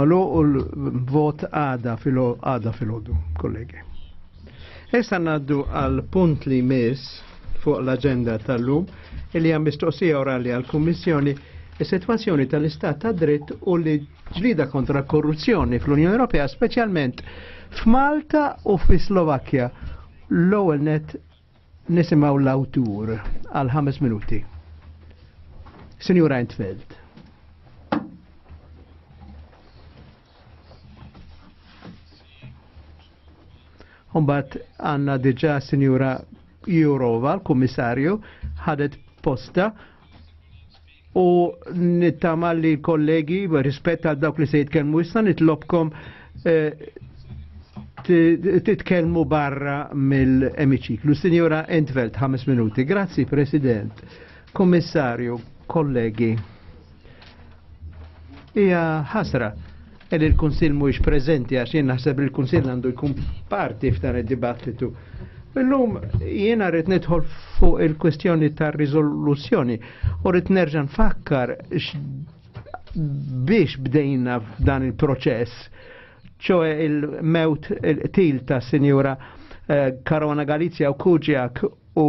Malu u l-vot għada fil-għada fil-ħodu, kollegi. Issa naddu għal punt li mis fuq l-agenda tal-lum il-li għam mistoqsija orali għal-Kommissjoni is-sitwazzjoni tal-istat ta' dritt u li ġlida kontra korruzzjoni fl-Unjoni Ewropea, speċjalment f'Malta u fis-Slovakkja. L-ewwel net Nisimaw l-awtur għal ħames minuti. Signor Eintfeld. Umbat għanna diġa Signora Jurova, l-Kummissarju, ħadet posta u nittama li kollegi rispett għal dawk li se jitkellmu issa nitlobkom eh, titkellmu barra mill-emiċiklu. Signora Entvelt, 5 minuti. Grazzi, President, Kommissarju, kollegi. Ija ħasra Ed il-Kunsill mhuwiex preżenti għax jien naħseb li l-Kunsill għandu jkun parti f'dan id-dibattitu. Illum jiena rrid nidħol fuq il-kwestjoni tar-riżoluzzjoni u rrid nerġa' nfakkar biex bdejna f'dan il-proċess, ċoe il-mewt il-qtil ta' Sinjura eh, Karona Galizja u Kuġjak U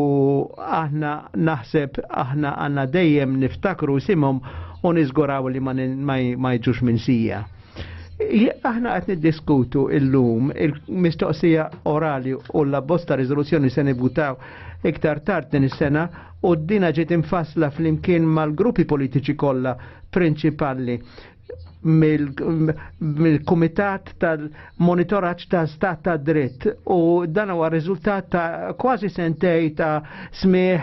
aħna naħseb aħna għanna dejjem niftakru simhom u niżguraw li ma jġux minn sija. Aħna qed niddiskutu illum il-mistoqsija orali u la bosta riżoluzzjoni se nibutaw iktar tard din is-sena u d-dina ġiet imfassla flimkien mal-gruppi politiċi kollha prinċipali mill-Kumitat tal-Monitoraġġ ta' Stat ta' Dritt u dan huwa riżultat ta' kważi sentej ta' smieħ,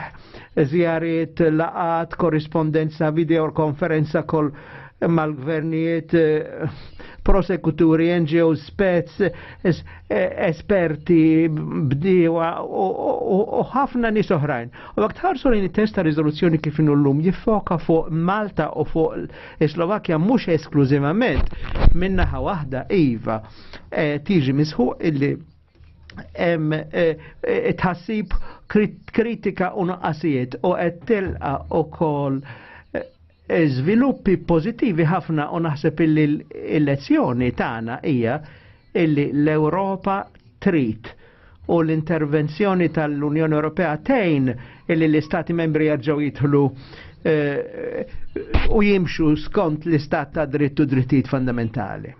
żjariet, laqat, korrispondenza, video konferenza kol mal-gvernijiet, prosekuturi, NGO, spez, esperti, bdiewa u ħafna nis oħrajn. U għak tħarsu li testa rizoluzzjoni kif l-lum jiffoka fuq Malta u fuq Is-Slovakkja mhux esklużivament minn naħa waħda iva eh, tiġi misħu illi hemm eh, eh, tħassib kritika u nuqqasijiet u qed tilqa' ukoll żviluppi pożittivi ħafna u naħseb illi l-elezzjoni tagħna hija illi l-Ewropa trid u l-intervenzjoni tal-Unjoni Ewropea tejn illi l-Istati membri jaġġaw jidħlu eh, u jimxu skont l-Istat ta' drittu drittijiet fundamentali.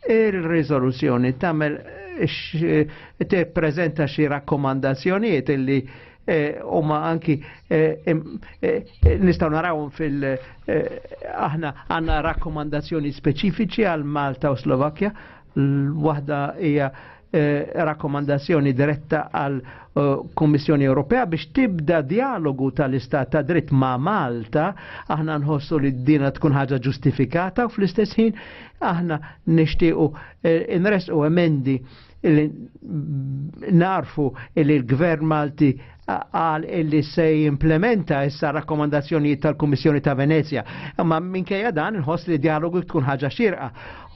Ir-riżoluzzjoni tagħmel te prezenta xi rakkomandazzjonijiet illi Eh, u ma anki eh, eh, nistaw naraw fil aħna għanna rakkomandazzjoni speċifiċi għal Malta u Slovakkja l-wahda hija rakkomandazzjoni diretta għal Kommissjoni Ewropea biex tibda dialogu tal-istat ta' dritt ma' Malta, aħna nħossu li d-dina tkun ħaġa ġustifikata u fl-istess ħin aħna nishtiqu nresqu emendi illi narfu illi l-gvern Malti għal illi se implementa issa rakkomandazzjoni tal-Kummissjoni ta' Venezia. Imma minkejja dan nħoss li dialogu tkun ħaġa xirqa.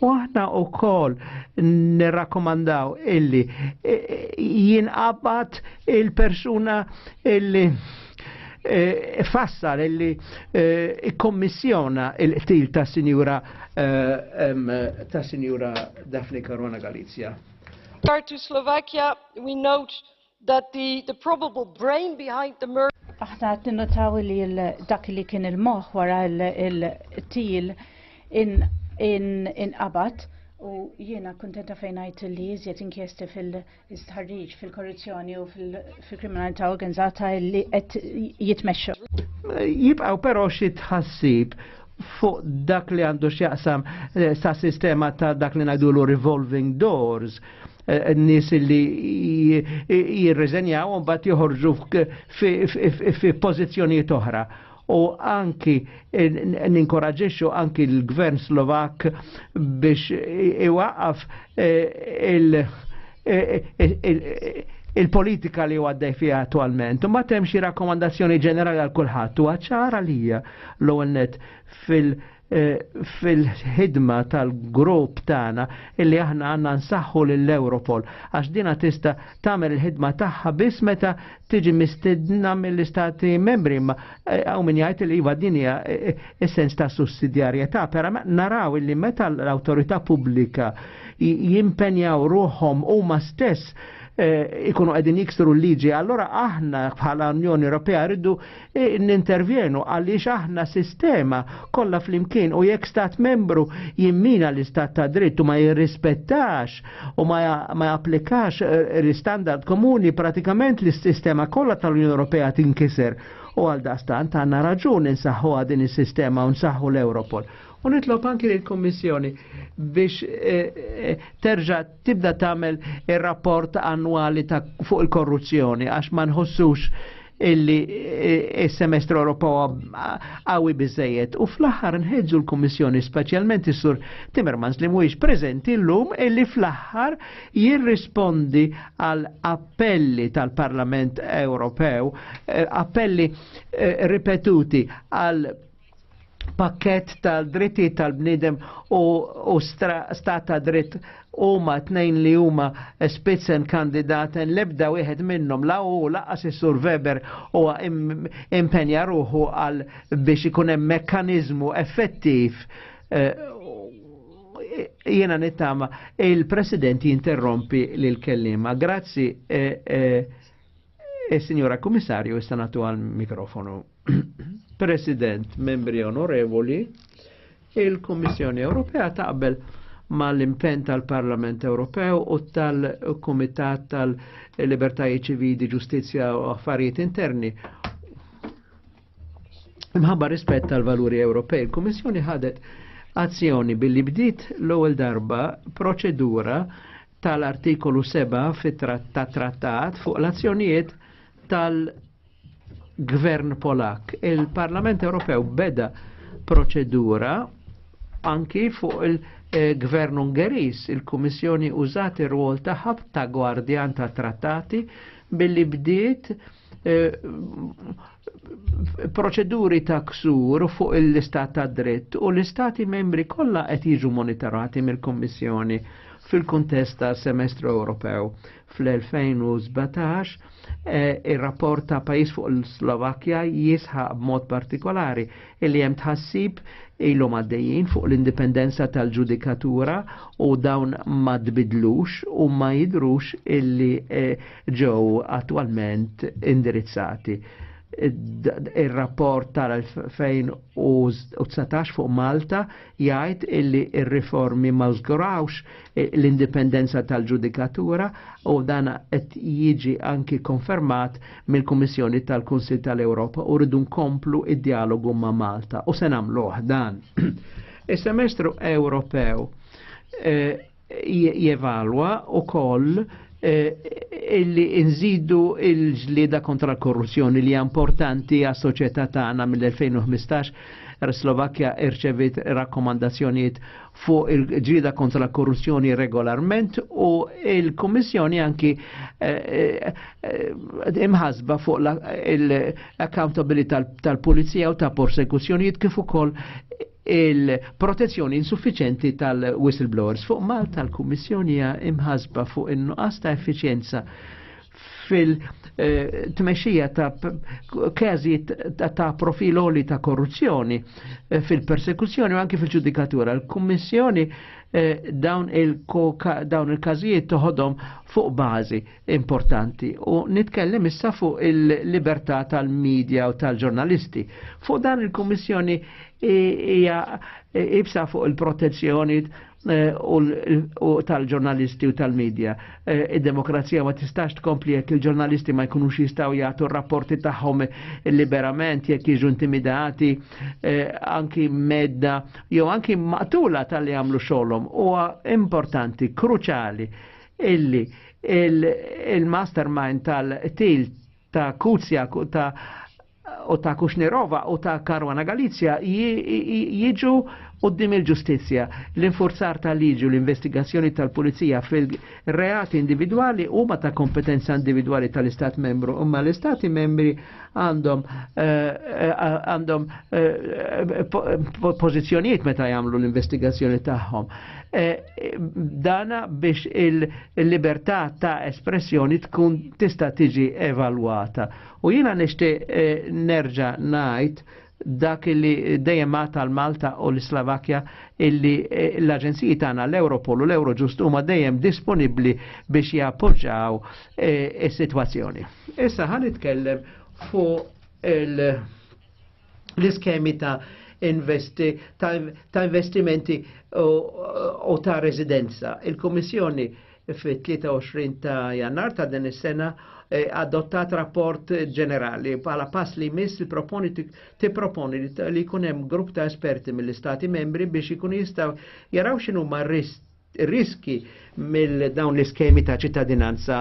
U aħna u kol nirrakkomandaw illi jinqabad il-persuna illi Eh, fassar illi eh, ikkommissjona il-qtil ta' sinjura eh, ta' sinjura Daphne Caruana Galizia. Regard to Slovakia, we note that the, the probable brain behind the murder Aħna qed ninnotaw li dak li kien il-moħħ wara il-til inqabad u jiena kuntenta fejn ngħid li iżjed inkjesti fil- Istħarriġ fil-korruzzjoni u fil-kriminalità organizzata li qed jitmexxu. Jibqgħu però xi tħassib fuq dak li għandu x'jaqsam eh, sa' sistema ta' dak li ngħidulu revolving doors eh, n-nis li jirreżenjaw un bat joħorġu fi pozizjoniet oħra. u anki ninkoraġixxu anki l-gvern Slovak biex iwaqaf eh, il- il-politika li għaddej fija attualment. Ma temm xi rakkomandazzjoni ġenerali għal kulħadd u għacċar għalija l-ewwel fil- Eh, fil-ħidma tal-grupp tagħna illi aħna għandna nsaħħu lill europol għax dina tista' tagħmel il-ħidma tagħha biss meta tiġi mistedna mill-istati membri ma eh, hawn min jgħid li iva din hija eh, essens ta' sussidjarjetà, però naraw illi meta l-awtorità pubblika jimpenjaw ruħhom huma stess ikunu qegħdin jiksru l-liġi, allora aħna bħala Unjoni Ewropea rridu nintervjenu għaliex aħna sistema kollha flimkien u jekk stat membru jimmina l-istat ta' dritt u ma jirrispettax u ma, ma japplikax eh, l-istandard komuni pratikament l-sistema kollha tal-Unjoni Ewropea tinkiser u għal dastant għandna raġun insaħħu din is-sistema u nsaħħu l-Europol. U nitlob anki lill-Kummissjoni biex eh, eh, terġa' tibda tagħmel ir-rapport annwali ta' fuq il-korruzzjoni għax ma nħossux illi eh, il-semestru Ewropew għawi bizzejiet. U fl-aħħar nħedġu l-Kummissjoni, speċjalment is-Sur Timmermans li mhuwiex preżenti llum illi fl-aħħar jirrispondi għal appelli tal-Parlament Ewropew, eh, appelli eh, ripetuti għal pakket tal-dritti tal-bnidem u, u stat ta' dritt huma tnejn li huma spitzen kandidaten lebda wieħed minnhom la u laqas is-Sur Weber huwa impenja ruħu għal biex ikun hemm mekkaniżmu effettiv eh, jiena nittama il-President jinterrompi lil kellima. Grazzi eh, eh, Is-Sinjora e, Kummissarju issa nagħtu għal mikrofonu. President, membri onorevoli, il-Kummissjoni Ewropea taqbel mal-impen tal-Parlament Ewropew u tal-Kumitat tal-Libertajiet Ċivili, Ġustizzja u Affarijiet Interni Imħabba rispett tal-valuri Ewropej, il-Kummissjoni ħadet azzjoni billi bdiet l-ewwel darba proċedura tal-artikolu 7 fit-trattat fuq l-azzjonijiet tal-Gvern Polak. Il-Parlament Ewropew beda proċedura anki fuq il-Gvern Ungeris, il-Kummissjoni użat ir-rwol tagħha ta' gwardjan ta' trattati billi bdiet Eh, proċeduri ta' ksur fuq l-istat ta' dritt u l-istati membri kollha qed jiġu monitorati mill-Kommissjoni fil-kuntest ta' semestru Ewropew. Fl-2017 eh, ir-rapport ta' pajis fuq l-Slovakkja jisħaq b'mod partikolari illi hemm tħassib ilhom għaddejjin fuq l-indipendenza tal-ġudikatura u dawn ma tbidlux u ma jidrux illi eh, ġew attwalment indirizzati. Il-rapport tal-2019 fuq Malta jgħid illi il-riformi ma żgurawx e, l-indipendenza tal-ġudikatura u dan qed jiġi anki konfermat mill-Kummissjoni tal-Kunsil tal-Ewropa u rridu nkomplu id-dialogu ma' Malta u se nagħmlu dan. Is-semestru Ewropew e, jevalwa u koll Eh, illi nżidu il-ġlida kontra l-korruzzjoni li importanti għas soċjetà tagħna mill-2015 Slovakkja irċevit rakkomandazzjonijiet fuq il-ġida kontra l korruzzjoni regolarment u il-Kommissjoni anki eh, eh, imħasba fuq l-accountability tal-Pulizija u ta' persekuzzjonijiet kif ukoll il-protezzjoni insuffiċenti tal-whistleblowers. Fuq Malta l-Kummissjoni imħasba fuq in-nuqqas ta' effiċjenza fil-tmexxija ta' każi ta' profiloli ta' korruzzjoni eh, fil-persekuzzjoni u anki fil-ġudikatura. Il-Kummissjoni eh, dawn il-każijiet toħodhom fuq bażi importanti u nitkellem issa fuq il-libertà tal-medja u tal-ġurnalisti. Fuq dan il-Kummissjoni hija ibsa fuq il-protezzjoni Eh, u tal-ġurnalisti u tal-medja. Eh, id-demokrazija ma tistax tkompli jekk il-ġurnalisti ma jkunux jistaw jagħtu rapporti tagħhom liberament jekk jiġu intimidati eh, anki medda jew anki maqtula tal-li għamlu xogħolhom. Huwa importanti, kruċali illi il-mastermind tal-til ta' Kuzja ta' u ta' Kuxnerova u ta' Karwana Galizja jiġu qoddim il-ġustizzja. L-infurzar tal-liġi u l-investigazzjoni tal-pulizija fil-reati individwali huma ta' kompetenza individwali tal-Istat membru, imma l-Istati membri għandhom eh, għandhom eh, pożizzjonijiet meta jagħmlu l-investigazzjoni tagħhom. Eh, dana biex il-libertà ta' espressjoni tkun tista' tiġi evalwata U jiena nixtieq eh, nerġa' ngħid dak li dejjem tal malta u l-Slovakkja illi eh, l-aġenziji tagħna l-Europol u l-Eurojust huma dejjem disponibbli biex jappoġġaw eh, is-sitwazzjoni. Issa ħan nitkellem fuq l-iskemi ta' investi, ta', investimenti u ta' residenza. Il-Komissjoni fit-23 ta' jannar ta' din is-sena eh, adottat rapport ġenerali bħala pass li jmiss il-proponi tipproponi li jkun hemm grupp ta' esperti mill-istati membri biex ikunu jistgħu jaraw x'inhu ma' riski mill dawn l-iskemi ta' ċittadinanza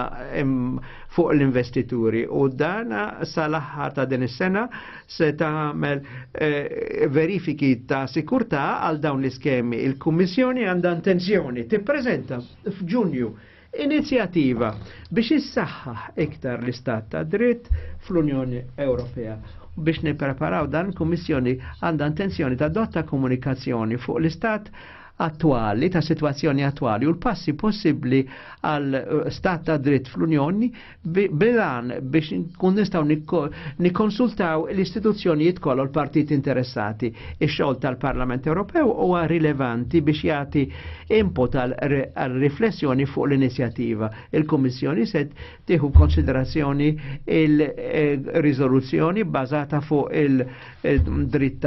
fuq l-investituri u dana sal-aħħar ta' din is-sena se tagħmel eh, verifiki ta' sikurtà għal dawn l-iskemi. Il-Kummissjoni għandha intenzjoni tippreżenta f'Ġunju inizjattiva biex issaħħaħ iktar l-istat ta' dritt fl-Unjoni Ewropea. Biex nippreparaw dan il-Kummissjoni għandha intenzjoni ta' dotta komunikazzjoni fuq l-istat attwali, ta' situazzjoni attwali u l-passi possibbli għal eh, stat ta' dritt fl-Unjoni bilan biex nkun nistaw nikkonsultaw l-istituzzjonijiet kollu l-partit interessati. Ix-xogħol tal-Parlament Ewropew huwa rilevanti biex jagħti input għal riflessjoni fuq l-inizjattiva. Il-Kummissjoni se tieħu konsiderazzjoni il-riżoluzzjoni bbażata fuq il-dritt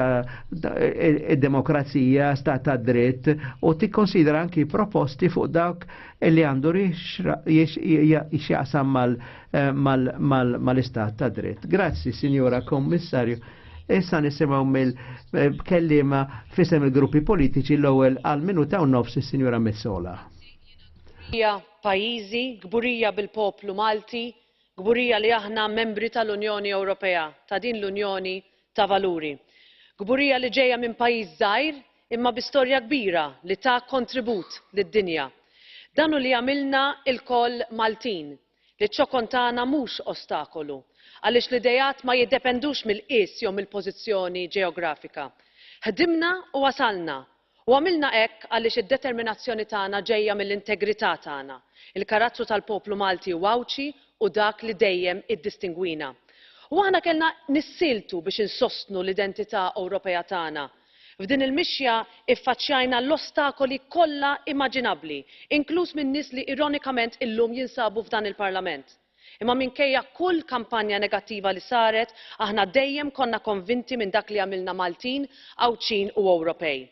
id-demokrazija, stat ta' dritt u tikkonsidra anki proposti fuq dawk li għandu jixjaqsam mal-istat ta' dritt. Grazzi, Signora Kommissarju. Issa nisimaw mill-kellima eh, fisem il-gruppi politiċi l-ewwel għal minuta u nofs is-Sinjura Messola. Hija pajjiżi gburija bil-poplu Malti, gburija li aħna membri tal-Unjoni Ewropea, ta' din l-Unjoni ta' valuri. Kburija li ġejja minn pajjiż żgħir imma bi storja kbira li ta kontribut lid-dinja. Dan hu li jagħmilna lkoll Maltin, li ċ-ċokon tagħna mhux ostakolu, għaliex l-ideat ma jiddependux mill-qies jew mill-pożizzjoni ġeografika. Ħdimna u wasalna U għamilna hekk għaliex id-determinazzjoni tagħna ġejja mill-integrità tagħna, il-karattru tal-poplu Malti u Għawdxi hu dak li dejjem iddistingwina. U aħna kellna nissieltu biex insostnu l-identità Ewropea tagħna. F'din il-mixja iffaċċjajna l-ostakoli kollha imaġinabbli, inkluż minn nies li ironikament illum jinsabu f'dan il-Parlament. Imma minkejja kull kampanja negattiva li saret, aħna dejjem konna konvinti minn dak li għamilna Maltin, Għawdxin u Ewropej.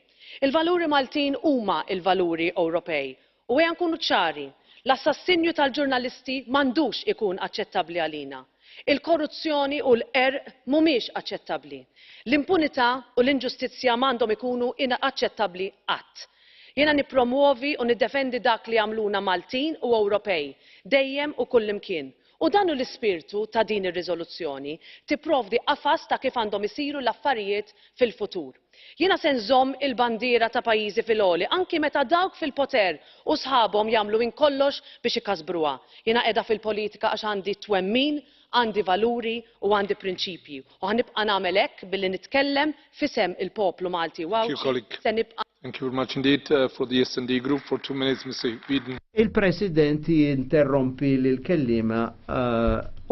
Il-valuri Maltin huma l-valuri Ewropej. U ejja nkunu ċari, l-assassinju tal-ġurnalisti m'għandux ikun aċċettabbli għalina. Il-korruzzjoni u l-qerq mhumiex aċċettabbli. L-impunità u l-inġustizzja m'għandhom ikunu inaċċettabbli qatt. Jiena nippromwovi u niddefendi dak li jagħmluna Maltin u Ewropej, dejjem u kullimkien. U dan hu l-ispirtu ta' din ir-riżoluzzjoni, tipprovdi qafas ta' kif għandhom isiru l-affarijiet fil-futur. Jiena se nżomm il-bandiera ta' pajjiżi fil-għoli anki meta dawk fil-poter u sħabhom jagħmlu minn kollox biex ikasbruha. Jiena qiegħda fil-politika għax għandi t-twemmin Għandi valuri u għandi prinċipji u ħa nibqa' nagħmel hekk billi nitkellem f'isem il-poplu Malti u Għawdxi se nibqa' Thank you very much indeed. For the SD Group for two minutes Mr Whedon. Il-President jinterrompi lill-kelliema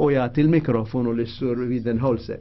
u jagħti l-mikrofonu lis-Sur Weidenholzer.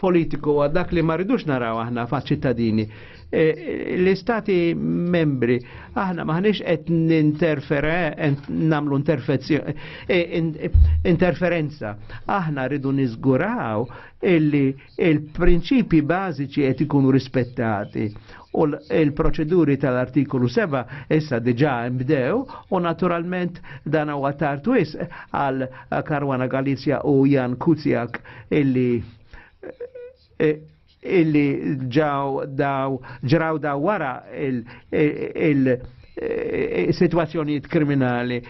politiku għad dak li ma rridux naraw aħna fa' ċittadini. E, l-istati membri, aħna maħniex qed ninterfere, namlu e, interferenza. Aħna rridu nizguraw illi il-prinċipi bażiċi qed ikunu rispettati u l-proċeduri tal-artikolu 7 issa diġa imbdew u naturalment dan huwa tartwis għal Karwana Galizja u Jan Kuzjak illi eh, illi ġaw daw ġraw daw wara il, il, Eh, situazzjonijiet kriminali.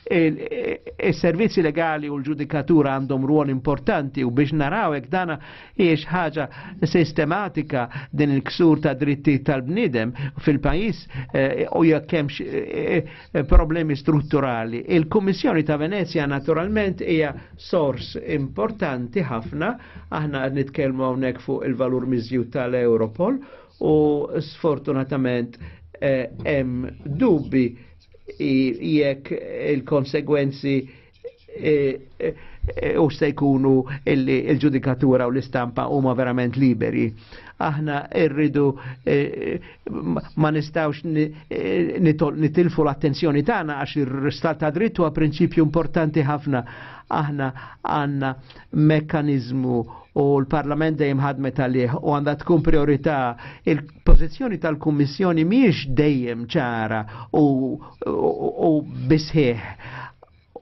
Il-servizzi eh, legali u l-ġudikatura għandhom ruol importanti u biex naraw hekk dana hiex ħaġa sistematika din il-ksur ta' dritti tal-bnidem fil-pajis eh, u jekk hemmx Eh, problemi strutturali. Il-Kummissjoni ta' Venezia naturalment hija sors importanti ħafna, aħna qed nitkellmu hawnhekk fuq il-valur miżjud tal-Europol u sfortunatament eh, hemm eh, dubbi jekk il-konsegwenzi u se jkunu il-ġudikatura u l-istampa huma verament liberi. Aħna rridu eh, ma nistawx eh, nitilfu l-attenzjoni tagħna għax ir-stat ta' dritt huwa prinċipju importanti ħafna. Aħna għandna mekkaniżmu u l-Parlament dejjem ħadmet għalih u għandha tkun priorità il-pożizzjoni tal-Kummissjoni mhijiex dejjem ċara u, u, u bisħieħ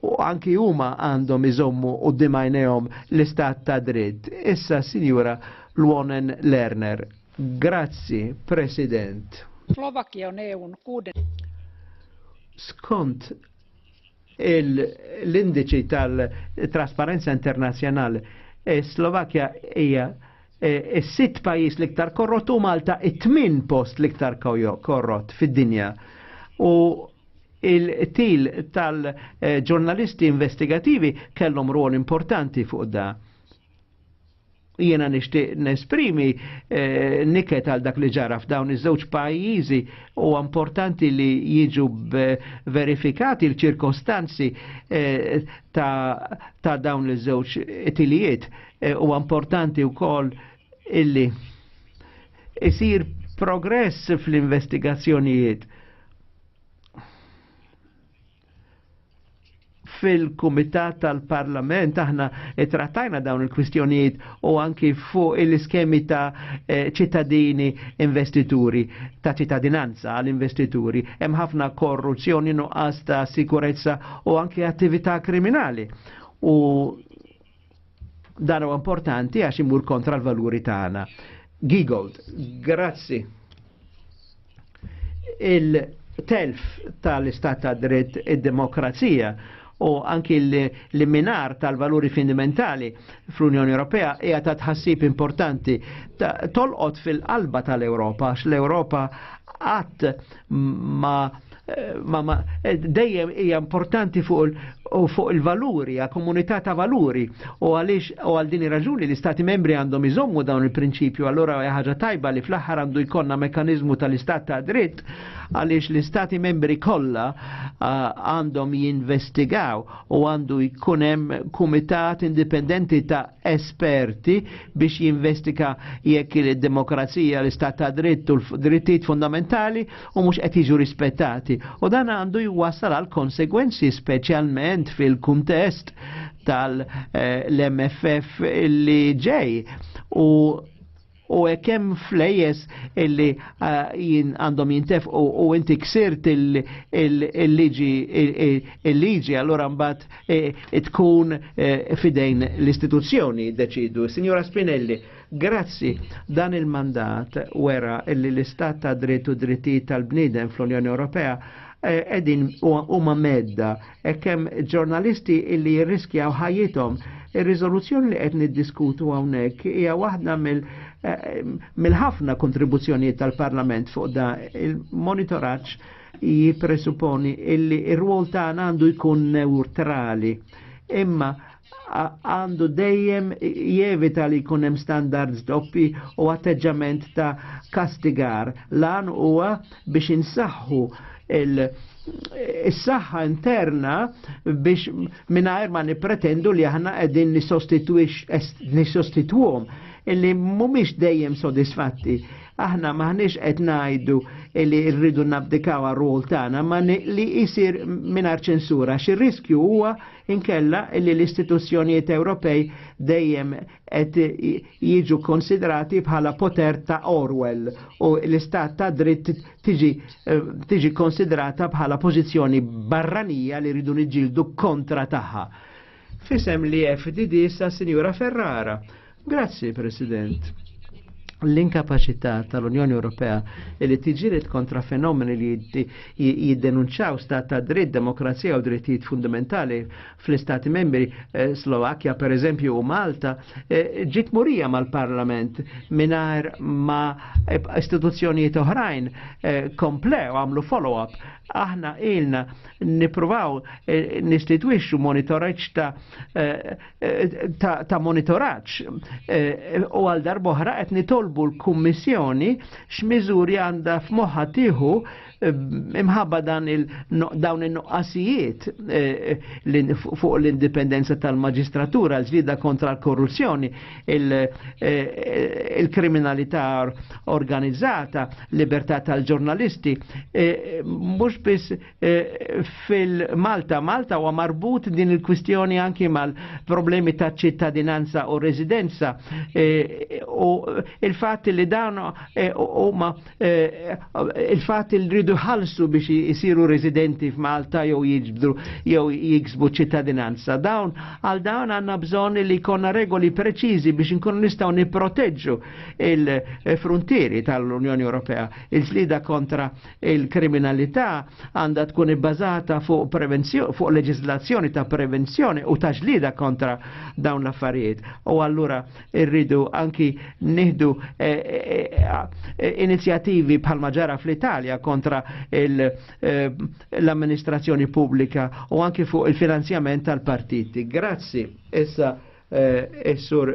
u anki huma għandhom iżommu u dimajnejhom l-istat ta' dritt. Issa Sinjura Lwonen Lerner. Grazzi, President. Slovakkia on EUn kuuden. Skont l-indiċi tal-trasparenza internazjonali, e Slovakja hija e, is-sitt pajjiż l-iktar korrott u Malta it-tmin post l-iktar korrott fid-dinja. U il-til tal-ġurnalisti investigativi kellhom rol importanti fuq da. Jiena nixtieq nesprimi eh, niket għal dak li ġara f'dawn iż-żewġ pajjiżi u importanti li jiġu verifikati l-ċirkostanzi eh, ta', ta dawn iż-żewġ tilijiet. Eh, u importanti wkoll illi isir progress fl-investigazzjonijiet fil-Kumitat tal-Parlament aħna trattajna dawn il-kwistjonijiet u anki fuq il-iskemi ta' eh, ċittadini investituri, ta' ċittadinanza għal-investituri. Hemm ħafna korruzzjoni nuqqas ta' sikurezza u anki attività kriminali. U Dan huwa importanti għax imur kontra l-valuri tagħna. Gigold, grazzi. Il-telf tal-istat ta' dritt id-demokrazija u anki l-minar tal-valuri fundamentali fl-Unjoni Ewropea hija ta' tħassib importanti tolqot fil-qalba tal-Ewropa, għax l-Ewropa għat ma Eh, Mama, eh, dejjem hija importanti fuq fuq il-valuri, għal komunità ta' valuri. U għaliex u għal din raġuni li stati membri għandhom iżommu dawn il-prinċipju, allora ħaġa tajba li fl-aħħar għandu jkollna mekanizmu tal-istat ta' dritt għaliex l-istati membri kollha għandhom jinvestigaw u għandu jkun hemm kumitat indipendenti ta' esperti biex jinvestiga jekk il-demokrazija, l-istat ta' dritt u l-drittijiet fundamentali u mhux qed jiġu rispettati u dan għandu jwassal għal konsegwenzi speċjalment fil-kuntest tal-MFF eh, li ġej u u hemm flejes illi eh, jien għandhom jintef u inti ksirt il-liġi il-liġi allura mbagħad eh, tkun eh, fidejn l-istituzzjoni deċidu. Signora Spinelli, Grazzi, dan il-mandat wera illi l-istat ta' dritt u drittijiet tal-bniedem fl-Unjoni Ewropea eh, edin huma medda e kemm ġurnalisti illi jirriskjaw ħajjithom. Ir-riżoluzzjoni li qed niddiskutu hawnhekk hija waħda mill- eh, mill-ħafna kontribuzzjonijiet tal-Parlament fuq da il-monitoraġġ jippresuponi illi r-rwol tagħna għandu jkun neutrali. Imma għandu dejjem jevita li jkun hemm standards doppi u atteġġament ta' kastigar. Lan huwa biex insaħħu il-saħħa interna biex mingħajr ma nippretendu li aħna qegħdin nisostitwhom illi mhumiex dejjem sodisfatti Aħna maħniex qed ngħidu li rridu nabdikaw għar-rol tagħna ma li jsir mingħajr ċensura. Xi riskju huwa inkella li l-istituzzjonijiet Ewropej dejjem qed jiġu konsidrati bħala poter ta' Orwell u l-istat ta' dritt tiġi, eh, tiġi konsidrata bħala pożizzjoni barranija li rridu niġġieldu kontra tagħha. Fisem li FDD sa' Sinjura Ferrara. Grazzi, President l-inkapacità tal-Unjoni Ewropea li tiġiret kontra fenomeni li jiddenunċaw stat ta' dritt, demokrazija u drittijiet fundamentali fl-istati membri eh, Slovakkja per eżempju u Malta eh, ġiet murija mal-parlament minar ma istituzzjonijiet oħrajn eh, komplew għamlu follow-up aħna ilna nipruvaw nistitwixxu monitoraġġ ta' ta', monitoraċ. Eh, u għal darboħra qed nitolbu l-Kummissjoni x'miżuri għandha f'moħħa tieħu eh, imħabba dan il dawn in-nuqqasijiet eh, fuq l-indipendenza tal-maġistratura, l-ġlida kontra l-korruzzjoni, il-kriminalità organizzata, libertà tal-ġurnalisti, mhux biss Eh, fil-Malta. Malta huwa marbut din il-kwistjoni anki mal-problemi ta' ċittadinanza u residenza eh, u il-fatt li dan eh, huma il-fatt li rridu ħalsu biex isiru residenti f'Malta jew jiġbdu jew jiksbu ċittadinanza. Dawn għal dawn għandna bżonn li jkollna regoli preċiżi biex inkunu nistgħu nipproteġġu il-frontieri tal-Unjoni Ewropea, il-slida kontra il-kriminalità għandha tkun ibbażata fuq prevenzjoni, fuq leġislazzjoni ta' prevenzjoni u ta' ġlida kontra dawn l-affarijiet. U allura irridu anki nieħdu eh, eh, eh, inizjattivi bħal maġara fl-Italja kontra l-amministrazzjoni pubblika u anki fuq il-finanzjament tal-partiti. Grazzi. Issa, eh, sur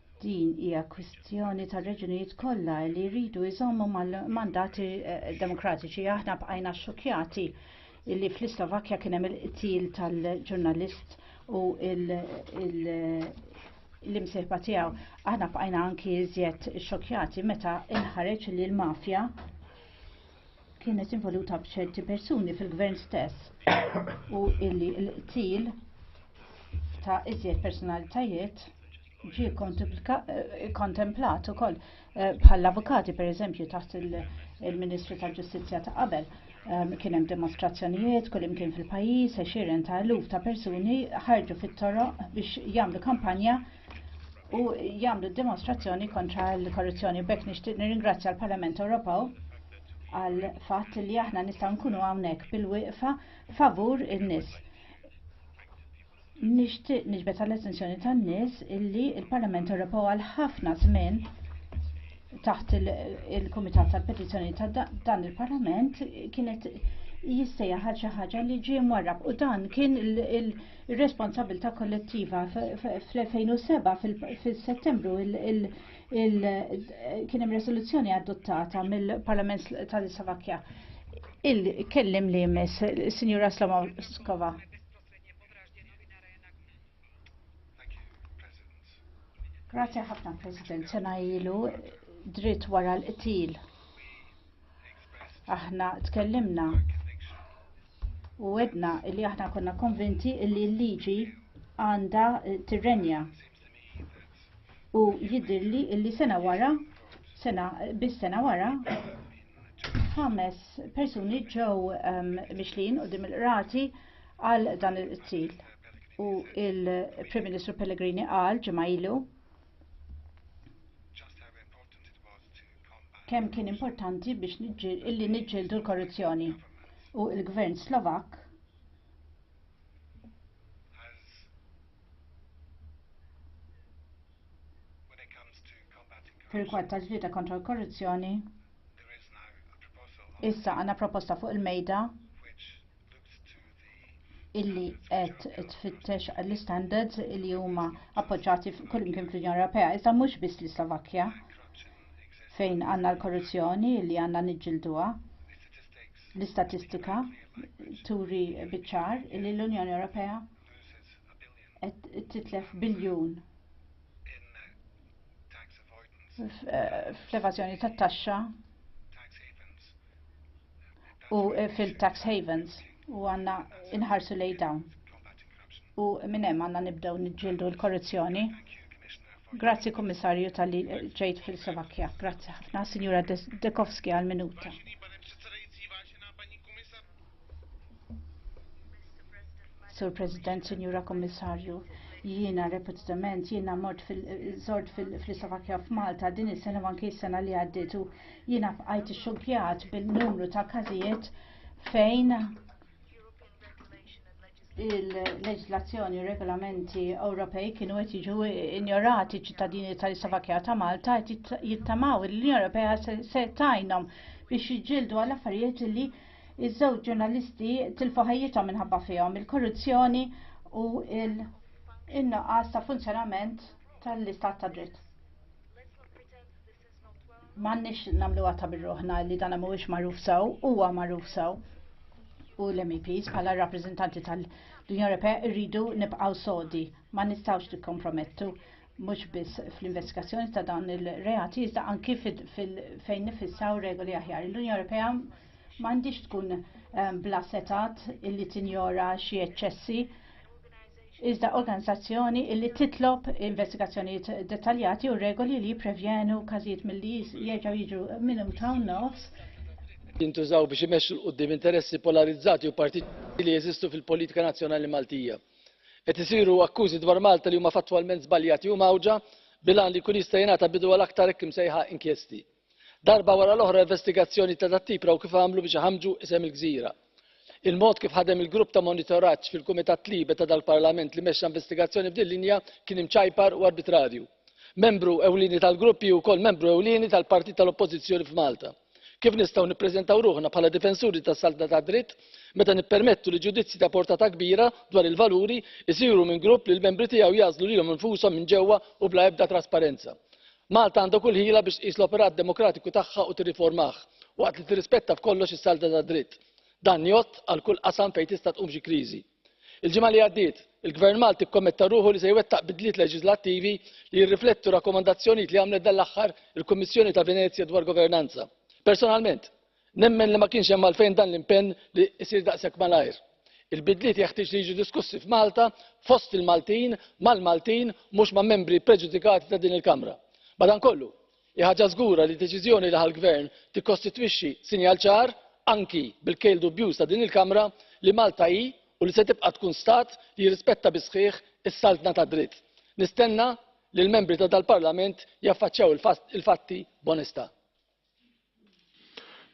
Din hija kwistjoni ta' reġunijiet kollha li jridu jżommu mal-mandati eh, demokratiċi. Aħna bqajna xokjati li fl-Islovakkja kien hemm il-qtil tal-ġurnalist u l-imsejħba tiegħu. Aħna bqajna anki iżjed xokjati meta inħareġ li l-mafja kienet involuta b'ċerti persuni fil-gvern stess u illi l-qtil ta' iżjed personalitajiet ġie eh, kontemplat ukoll eh, bħall-avukati pereżempju taħt il-Ministru tal-Ġustizzja ta' qabel. Ehm, kien hemm dimostrazzjonijiet kull imkien fil-pajjiż, għexieren ta' eluf ta' persuni ħarġu fit-toroq biex jagħmlu kampanja u jagħmlu d-dimostrazzjoni kontra l-korruzzjoni. B'hekk nixtieq nirringrazzja l-Parlament Ewropew għal fatt li aħna nistgħu nkunu hawnhekk bil-wieqfa favur in-nies. Nixtieq niġbed għall-attenzjoni tan-nies illi l parlament Ewropew għal ħafna żmien taħt il-Kumitat tal-Petizzjoni ta' dan il-Parlament kienet jistejja ħaġa ħaġa li ġie mwarrab u dan kien il- ir-responsabilità kollettiva fl-2007 fil-Settembru kien hemm resoluzzjoni adottata mill-Parlament tal-Slovakkja. Il-kellim li jmiss, Sinjura Slomoskova. Grazie ħafna, President. Sena ilu dritt wara l-qtil Aħna tkellimna u għedna li aħna konna konvinti li l-liġi għandha tirrenja. U jidhirli li sena wara, sena bis sena wara, ħames persuni ġew ehm, mixlin u dim il-qrati għal dan il-qtil. U il-Prim Ministru Pellegrini qal ġimgħa ilu kemm kien importanti biex illi niġġieldu l-korruzzjoni. U l gvern Slovak fil-kwad tal-ġlieda kontra l-korruzzjoni issa għandna proposta fuq il-mejda illi qed tfittex l-istandards li huma appoġġati kullimkien fl-Unjoni Ewropea, iżda mhux biss l-Slovakkja fejn għandna l-korruzzjoni li għandna niġġilduha. L-istatistika turi biċ-ċar li l-Unjoni Ewropea qed titlef biljun fl-evażjoni tat-taxxa u fil-tax havens u għandna inħarsu lejn dawn. U minn hemm għandna nibdew niġġieldu l-korruzzjoni. Grazzi Kummissarju tal-li ġejt fil-Slovakkja. Grazzi ħafna, Sinjura Dekowski għal-minuta. Sur President, Sinjura Kommissarju, jiena repetitament jiena mort fil-żort fil-Slovakkja f'Malta din is-sena anki s-sena li għaddiet u jiena bqajt ixxukkjat bin-numru ta' każijiet fejn il-leġislazzjoni u regolamenti Ewropej kienu qed jiġu injorati ċittadini tal-Slovakkja ta' Malta qed jittamaw l-Unjoni Ewropea se tajnhom biex jiġġieldu għal affarijiet li iż-żewġ ġurnalisti tilfu ħajjithom minħabba fihom il-korruzzjoni u l-innuqqas ta' funzjonament tal-istat ta' dritt. M'għandniex nagħmluha ta' birruħna li dan mhuwiex magħruf sew, huwa magħruf sew. U l-MEPs bħala rappreżentanti tal-Unjoni Ewropea rridu nibqgħu sodi, ma nistgħux nikkompromettu mhux biss fl-investigazzjoni ta' dawn il-reati iżda anki fejn nifissaw regoli aħjar. L-Unjoni Ewropea m'għandix tkun ehm, bla setat illi tinjora xi eċċessi iżda organizzazzjoni li titlob investigazzjonijiet dettaljati u regoli li jipprevjenu każijiet milli jerġgħu jiġu minuta u nofs jintużaw biex imexxu 'l quddiem interessi polarizzati u partitarji li jeżistu fil-politika nazzjonali Maltija. Qed isiru akkużi dwar Malta li huma fattwalment żbaljati u mgħawġa bil-għan li jkun jista' jingħata bidu għal aktar hekk imsejħa inkjesti. Darba wara l-oħra investigazzjoni ta' dat-tip raw kif għamlu biex iħammġu isem il-gżira. Il-mod kif ħadem il-grupp ta' monitoraġġ fil-Kumitat Libe ta' dal-Parlament li mexxa investigazzjoni f'din linja kien imċajpar u arbitrarju. Membru ewlieni tal-grupp hi wkoll membru ewlieni tal-partit tal-Oppożizzjoni f'Malta. Kif nistgħu nippreżentaw ruħna bħala difensuri tas-saltna tad-dritt meta nippermettu li ġudizzji ta' portata kbira dwar il-valuri jsiru minn grupp li l-membri tiegħu jagħżlu lilhom infushom minn ġewwa u bla ebda trasparenza? Malta għandha kull ħila biex tqis l-operat demokratiku tagħha u tirriformah, waqt li tirrispetta f'kollox is-salda tad-dritt. Dan jgħodd għal kull qasam fejn tista' tqum xi kriżi. Il-ġimgħa li għaddiet, il-Gvern Malti kkommetta ruħu li se jwettaq bidliet leġiżlattivi li jirriflettu rakkomandazzjonijiet li għamlet dan l-aħħar il-Kummissjoni ta' Venezja dwar governanza. Personalment, Nemmen li ma kienx hemm għalfejn dan l-impenn li jsir daqshekk malajr. Il-bidliet jeħtieġ li jiġu diskussi f'Malta, fost il-Maltin, mal-Maltin, mhux ma' membri ppreġudikati ta' din il-Kamra. Madankollu, hi ħaġa żgura li d-deċiżjoni li ħa l-Gvern tikkostitwixxi sinjal ċar, anki bil-kejl dubjuż ta' din il-Kamra, li Malta hi u li se tibqa' tkun Stat li jirrispetta bis-sħiħ is-saltna tad-dritt. Nistenna li l-membri ta' dal-Parlament jaffaċċjaw il-fatti b'onestà.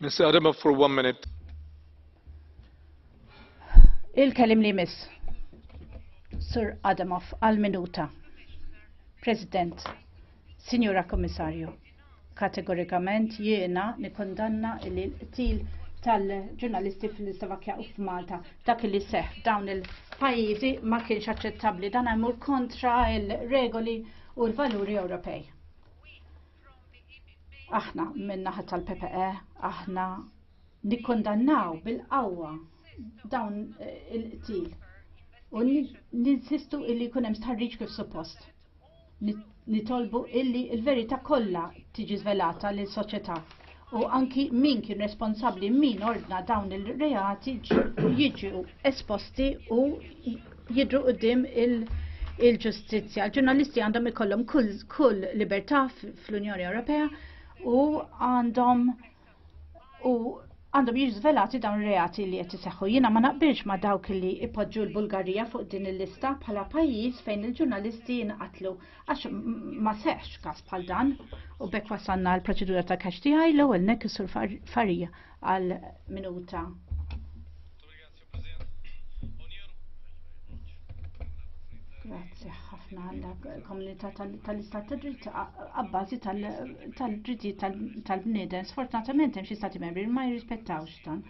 Mr. Adama for one minute. Il-kelim li miss. Sir Adamov għal minuta. President, Signora Komissarju, kategorikament jiena nikondanna li l-qtil tal-ġurnalisti fil-Slovakkja u f'Malta dak li seħ dawn il-pajjiżi ma kienx aċċettabbli dan għamur kontra il-regoli u l-valuri Ewropej. Aħna min-naħa tal-PPE aħna nikkondannaw bil-qawwa dawn eh, il-qtil u ninsistu illi jkun hemm stħarriġ kif suppost. Nitolbu illi l-verità kollha tiġi żvelata lil soċjetà u anki min kien responsabbli min ordna dawn il-reati jiġu esposti u jidru qudiem il-ġustizzja. Il-ġurnalisti għandhom ikollhom kull libertà fl-Unjoni Ewropea u għandhom u għandhom jiġu żvelati dawn reati li qed iseħħu. Jiena ma naqbilx ma dawk li ipoġġu l-Bulgarija fuq din il-lista bħala pajjiż fejn il-ġurnalisti jinqatlu Għax ma seħx kas bħal dan u bekk wasanna għal proċedura ta' kax tiegħi l-ewwel nek sur farija għal minuta. Grazie ħafna għal komunità tal-istat ta' dritt għabbażi tal-dritti tal-bniedem. Sfortunatament hemm xi stati membri ma jirrispettawx dan.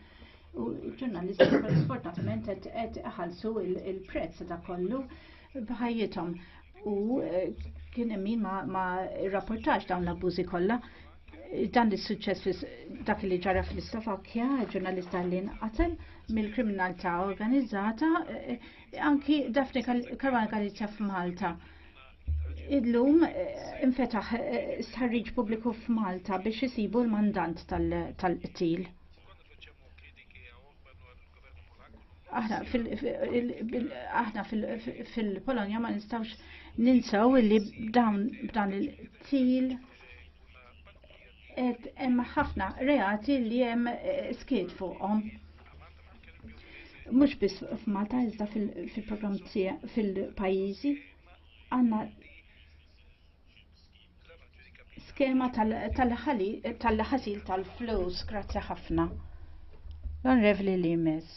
U ġurnalisti sfortunatament qed iħallsu il-prezz ta' kollu b'ħajjithom u eh, kien hemm min ma, ma rapportax dawn l-abbużi kollha. Dan li suċċess dak li ġara fl-Slovakkja, ġurnalista li nqatel mill-kriminalità organizzata, eh, anki Daphne Caruana Galizja f'Malta. Illum eh, infetaħ stħarriġ pubbliku f'Malta biex isibu l-mandant tal-qtil. Tal aħna fil-Polonja ma nistawx ninsaw li dawn b'dan il-til et hemm ħafna reati li hemm eh, skiet fuqhom. Mhux biss f'Malta iżda fil-programm fil-pajjiżi għandna skema tal-ħasil tal-flus. Grazzi ħafna. L-Onrevli Limes.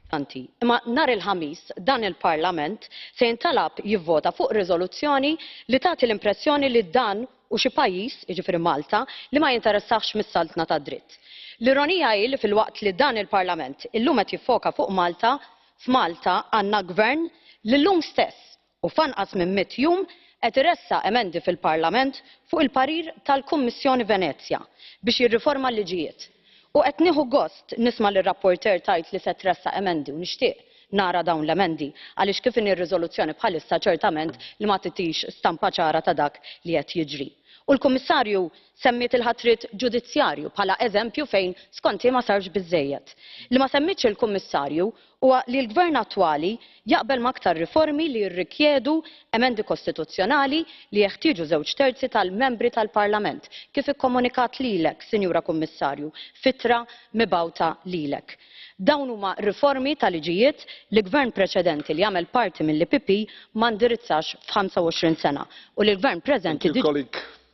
Imma nhar il-Ħamis dan il-Parlament se jintalab jivvota fuq riżoluzzjoni li tagħti l-impressjoni li dan u xi pajjiż, jiġifieri Malta, li ma jinteressahx mis-saltna tad-dritt. L-ironija hi li filwaqt li dan il-Parlament illum qed jiffoka fuq Malta, F'Malta għandna Gvern li llum stess u f'anqas minn mitt jum qed iressaq emendi fil-Parlament fuq il-parir tal-Kummissjoni Venezja biex jirriforma l-liġijiet. U qed nieħu gost nisma' lir-rapporteur tgħid li se tressaq emendi u nixtieq nara dawn l-emendi għaliex kif inhi r-riżoluzzjoni bħalissa ċertament li ma titix stampa ċara ta' dak li qed jiġri. U l-Kummissarju Semmiet il-ħatriet ġudizzjarju bħala eżempju fejn skont hi ma sarx biżżejjed. Li ma semmietx il-Kummissarju huwa li l-Gvern attwali jaqbel ma' aktar riformi li jirrikjedu emendi kostituzzjonali li jeħtieġu żewġ terzi tal-Membri tal-Parlament, kif ikkomunikat lilek, Sinjura Kummissarju, f'ittra mibgħuta lilek. Dawn huma riformi ta' liġijiet li Gvern preċedenti li għamel parti mill-EPP ma ndirizzax f'ħamsa u għoxrin sena u li l-Gvern preżenti diġà.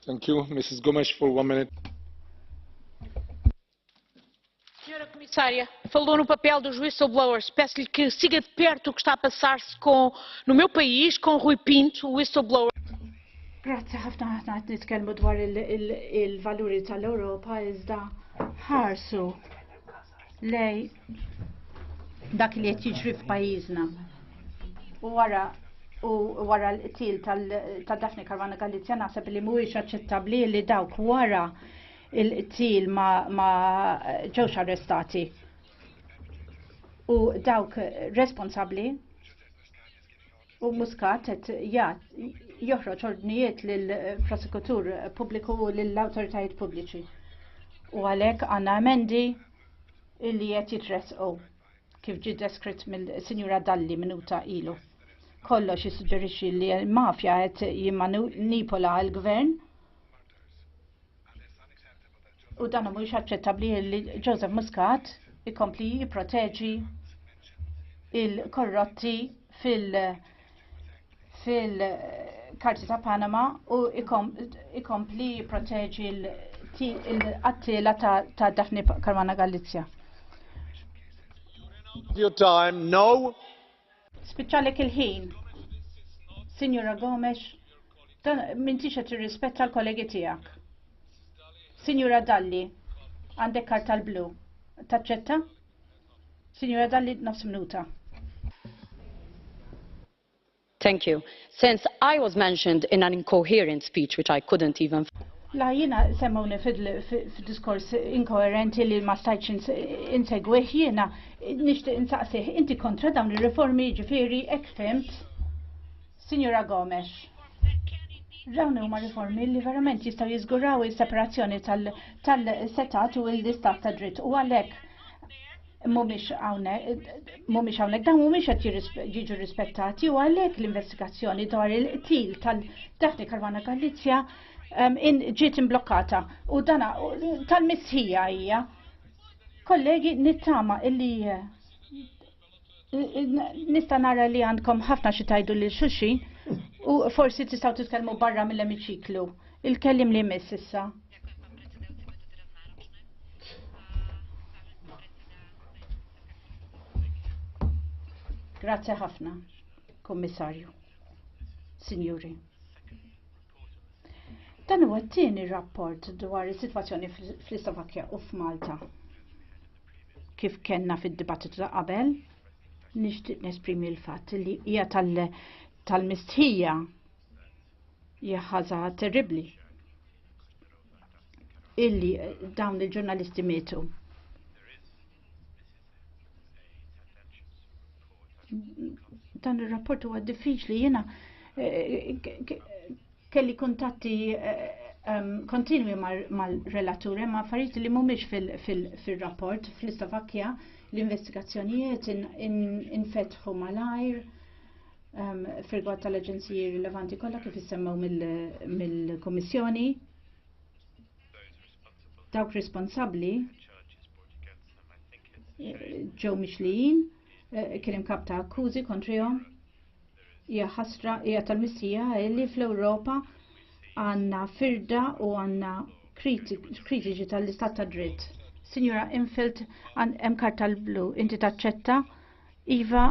Thank you, Mrs. Gomes, for one minute. Senhora Comissária, falou no papel dos whistleblowers. Peço-lhe que siga de perto o que está a passar-se com, no meu país, com Rui Pinto, o whistleblower. Grazie ħafna ħafna qed nitkellmu dwar il-valuri tal-Ewropa iżda ħarsu lej dak li qed jiġri f'pajjiżna. U wara u wara l-qtil ta' Daphne Caruana Galizja naħseb li mhuwiex aċċettabbli li dawk wara il-qtil ma ġewx arrestati. U dawk responsabbli u Muscat qed joħroġ ordnijiet lill prosekutur pubbliku u lill awtoritajiet pubbliċi. U għalhekk għandna emendi illi qed jitressqu kif ġie deskritt mill-Sinjura Dalli minuta ilu. Kollox jissuġġerixxi li l-mafja qed jimmanipola l-gvern u dan mhuwiex aċċettabbli li Joseph Muscat ikompli jipproteġi il-korrotti fil- fil-karti ta' Panama u ikompli proteġi l-qattila ta' Daphne Karwana Galizja. Your time, no. Spiċċalek il-ħin. Signora Gomes, dan minn tixa tirrispetta l-kollegi tijak. Signora Dalli, għandek karta l-blu. Taċċetta? Signora Dalli, nofs minuta. Thank you. Since I was mentioned in an incoherent speech which I couldn't even La jiena semmawni f'diskors inkoerenti li ma stajtx insegwih jiena nixtieq insaqsih inti kontra dawn ir-riformi jiġifieri hekk fimt. Sinjura Gomes. Dawn huma riformi li verament jistgħu jiżguraw is-separazzjoni tal-setat u l-istat ta' dritt u għalhekk mumiex hawnhekk dawn mhumiex qed jiġu rispettati u għalhekk l-investigazzjoni dwar il-qtil tal-Daphne Caruana Galizja ehm, ġiet imblokkata u dana tal-missija hija. Kollegi nittama illi eh, Nista' nara li għandkom ħafna xi tajdu lil xulxin u forsi tistgħu titkellmu barra mill-emiċiklu. Il-kellim li jmiss issa. Grazie ħafna, Kommissarju. Signori. Dan huwa t-tieni rapport dwar is-sitwazzjoni fl-Slovakkja u f'Malta. kif kellna fid-dibattitu ta' qabel, nixtieq nesprimi l-fatt li hija tal-mistħija hija ħaża terribbli illi dawn il-ġurnalisti mietu. Dan ir-rapport huwa diffiċli jiena eh, Kelli kuntatti kontinwi mal-relatur ma' affarijiet li mhumiex fir-rapport fl-Istovakkja l-investigazzjonijiet infetħu malajr fir-rigward tal-aġenziji rilevanti kollha kif issemmew mill-Kummissjoni. Dawk responsabbli ġew mixlijin kien hemm kap ta' akkużi kontrihom Hija ħasra hija tal-missija li fl-Ewropa għandna firda u għandna kritiċi tal-istat ta' dritt. Signora Infeld, hemm karta l-blu, inti taċċetta? Iva,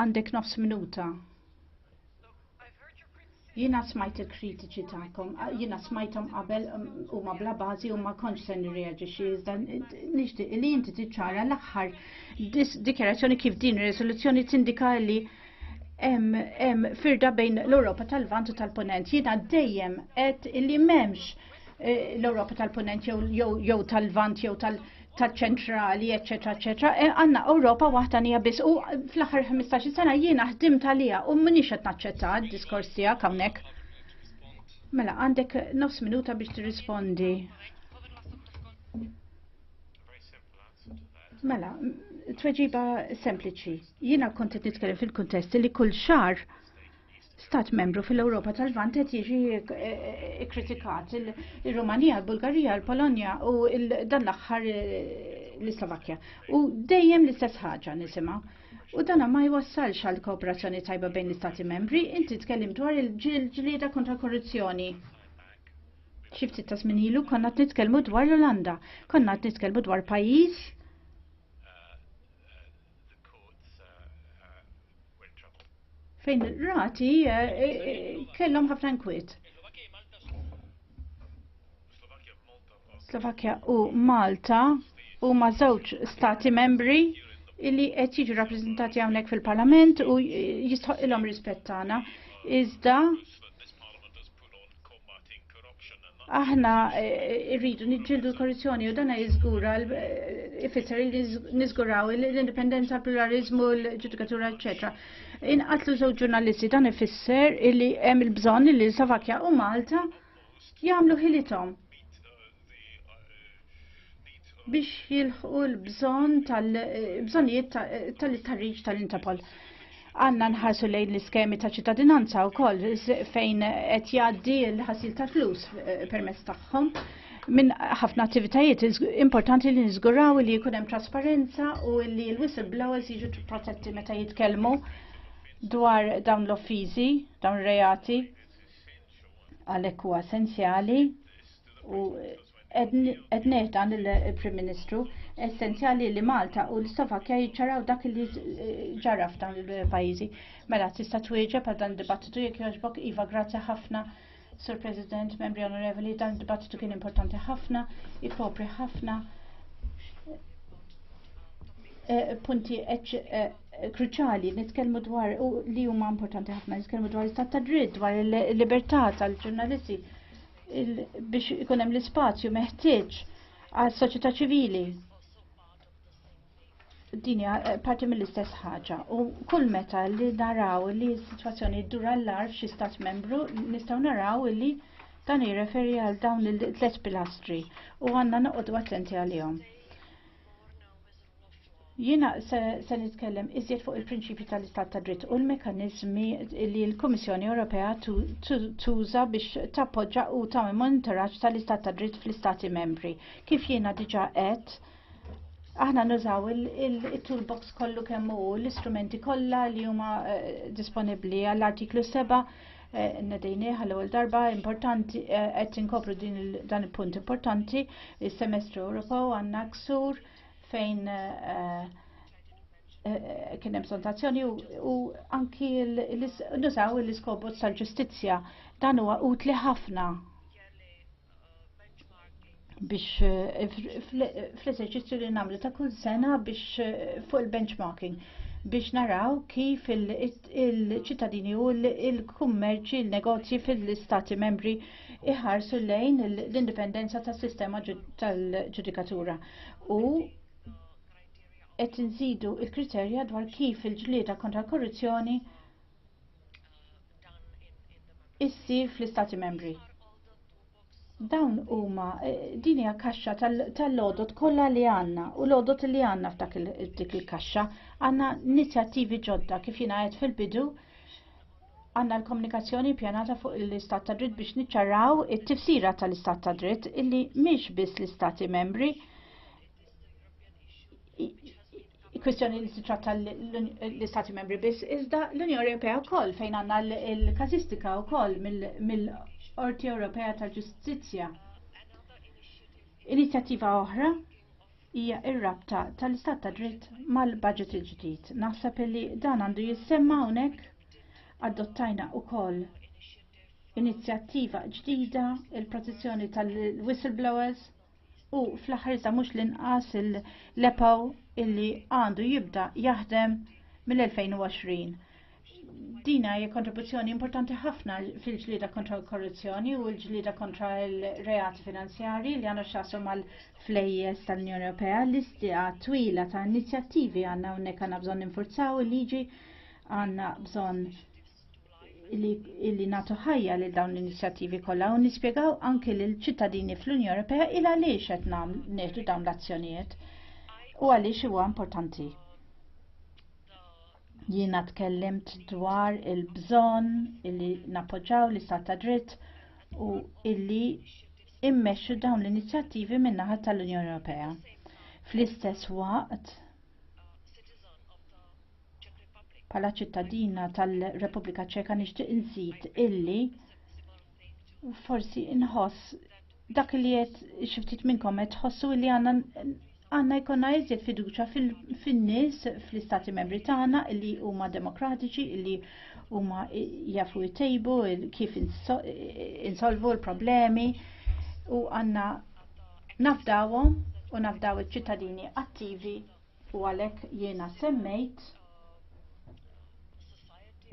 għandek nofs minuta. Jiena smajt il-kritiċi tagħkom, jiena smajthom qabel um, huma bla bażi u ma kontx se nirreaġixxi iżda nixtieq li inti tiċċara l-aħħar dikjarazzjoni kif din ir-riżoluzzjoni tindika li hemm firda bejn l-Ewropa tal-Vant u tal-Punent. Jiena dejjem qed li m'hemmx eh, l-Ewropa tal-Punent jew tal-Vant jew tal-ċentrali, eċetera, eċetera. Eh, għandna Ewropa waħda nija biss u fl-aħħar 15 sena jiena ħdimt għaliha u m'iniex qed naċċetta d-diskors tiegħek hawnhekk. Mela, għandek nofs minuta biex tirrispondi. Mela, tweġiba sempliċi. Jiena kont qed nitkellem fil-kuntest li kull xar stat membru fil-Ewropa tal-Vant qed jiġi eh, eh, kritikat il-Rumanija, il-Bulgarija, il-Polonja u dan l-aħħar eh, l-Slovakkja. U dejjem l-istess ħaġa nisimgħu. U dan ma jwassalx għal kooperazzjoni tajba bejn l-istati membri, inti tkellim dwar il-ġlieda kontra korruzzjoni. Xi ftit ta' żmien ilu konna qed nitkellmu dwar l-Olanda, konna qed nitkellmu dwar pajjiż fejn rati eh, eh, kellhom ħafna nkwiet. Slovakkja u Malta huma żewġ stati membri illi qed jiġu rappreżentati hawnhekk fil-Parlament u jistħoq ilhom rispett tagħna. Iżda aħna eh, rridu niġġieldu l-korruzzjoni u dana jiżgura ifisser li niżguraw l-indipendenza, l-pluralizmu, l-ġudikatura, eċetera. Inqatlu żewġ ġurnalisti dan ifisser li hemm il-bżonn li Slovakkja u Malta jagħmlu ħilithom biex jilħqu l-bżonn tal-bżonnijiet tal-ittarriġ tal-Interpol. Għanna nħarsu lejn l-iskemi ta' ċittadinanza u koll fejn qed jgħaddi l-ħasil tal-flus eh, permezz tagħhom minn ħafna attivitajiet importanti li niżguraw li jkun hemm trasparenza u li l-whistleblowers jiġu protetti meta jitkellmu dwar dawn l-offiżi, dawn reati għalhekk huwa essenzjali u qed neħda lill-Prim Ministru essenzjali li Malta u l-Slovakkja jiċċaraw dak li ġara f'dawn il-pajjiżi. Mela tista' twieġeb għal dan id-dibattitu jekk jogħġbok iva grazzi ħafna. Sur President, membri onorevoli, dan id-dibattitu kien importanti ħafna, ikopri ħafna eh, punti eh, kruċali nitkellmu dwar li huma importanti ħafna nitkellmu dwar l-istat ta' dritt, dwar il-libertà tal-ġurnalisti biex ikun hemm l-ispazju meħtieġ għal soċjetà ċivili. Din hija eh, parti mill-istess ħaġa u kull meta li naraw li s-sitwazzjoni ddur għall-arf xi stat membru nistgħu naraw li dan jirreferi għal dawn il-tliet pilastri u għandna noqogħdu attenti għalihom. Jiena se nitkellem iżjed fuq il-prinċipju tal-istat ta' dritt u l-mekanizmi li l-Kummissjoni Ewropea tuża biex tappoġġa u tagħmel monitoraġġ tal-istat ta' dritt fl-Istati membri. Kif jiena diġà qed, aħna nużaw il-toolbox kollu kemm hu l-istrumenti kollha li huma eh, disponibbli għall-artiklu 7 eh, nedejni għal ewwel darba importanti eh, qed inkopru dan il-punt importanti is-semestru Ewropew għandna ksur fejn eh, eh, kien hemm sontazzjoni u anki nużaw l-iskobot tal-ġustizzja dan huwa utli ħafna biex eh, fl-eżerċizzju li nagħmlu ta' kull sena biex fuq il-benchmarking biex naraw kif il-ċittadini u il-kummerċi, il-negozji fil-istati membri iħarsu lejn l-indipendenza tas-sistema tal-ġudikatura u qed inżidu l kriterja dwar kif il-ġlieda kontra l-korruzzjoni issir fl-Istati Membri. Dawn huma eh, din hija kaxxa tal-lodot kollha li għandna u lodot li għandna f'dak dik il-kaxxa għandna inizjattivi ġodda kif jingħajed fil-bidu għandna l-komunikazzjoni pjanata fuq l-istat ta' dritt biex niċċarraw it-tifsira tal-istat ta' dritt illi mhix biss l-istati membri kwestjoni li titratta l-istati membri biss, iżda l-Unjoni Ewropea wkoll fejn għandna l-kazistika wkoll mill-Qorti Ewropea tal-Ġustizzja. Inizjattiva oħra hija r-rabta tal-istat ta' dritt mal-budget il-ġdid. Naħseb li dan għandu jissemma hawnhekk adottajna wkoll inizjattiva ġdida il-protezzjoni tal-whistleblowers u fl-aħħar iżda mhux l-inqas il-lepaw illi għandu jibda jaħdem mill-2020. Dina hija kontribuzzjoni importanti ħafna fil-ġlieda kontra l-korruzzjoni u l-ġlieda kontra l-reati finanzjarji li għandhom xasru mal-flejjes tal-Unjoni Ewropea. Listija twila ta' inizjattivi għandna hawnhekk għandna bżonn infurzaw il-liġi għandna bżonn illi nagħtu ħajja lil dawn l-inizjattivi kollha u nispjegaw anke lil ċittadini fl-Unjoni Ewropea il għaliex qed nieħdu dawn l-azzjonijiet u għaliex huwa importanti. Jiena tkellimt dwar il-bżonn li nappoġġaw l-istat ta' dritt u illi immexxu dawn l-inizjattivi min-naħa tal-Unjoni Ewropea. Fl-istess waqt, bħala ċittadina tal-Repubblika Ċeka nixtieq inżid illi forsi inħoss Dak li qed xi ftit minnkom qed tħossu li għandna għandna jkollna iżjed fiduċja fin-nies fl-istati membri tagħna li huma demokratiċi li huma jafu jtejbu kif insolvu l-problemi u għandna nafdawhom u nafdaw iċ-ċittadini attivi u għalhekk jiena semmejt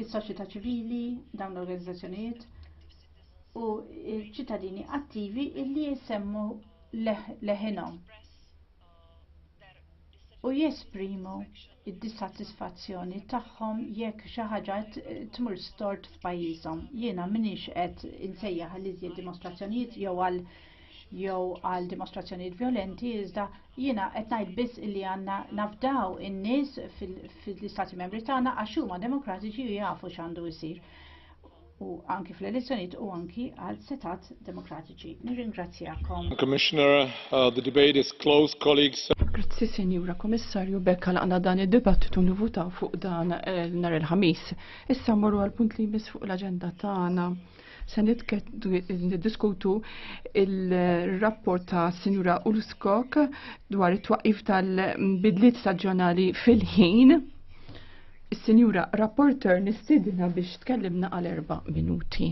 is-soċjetà ċivili dawn l-organizzazzjonijiet u ċittadini attivi illi jisemmu leħinhom u jesprimu id-dissatisfazzjoni tagħhom jekk xi ħaġa tmur stort f'pajjiżhom. Jiena m'iniex qed insejjaħ għal iżjed dimostrazzjonijiet jew għal jew għal dimostrazzjonijiet violenti, iżda jiena qed ngħid biss li għandna nafdaw in-nies fil-istati membri tagħna għax huma demokratiċi u jafu x'għandu jsir. u anki fl-elezzjonijiet u anki għal setat demokratiċi. Nirringrazzjakom. Commissioner, uh, the debate is closed, colleagues. Grazzi, Senjura Komissarju, bekk għalqna dan id-dibattitu nivutaw fuq dan eh, nar il-ħamis. Issa morru għal punt li jmiss fuq l-agenda tagħna. Se niddiskutu il-rapport ta' Sinjura Ulskok dwar it-twaqif tal-bidliet staġjonali fil-ħin Is-Sinjura Rapporter nistidina biex tkellimna għal erba' minuti.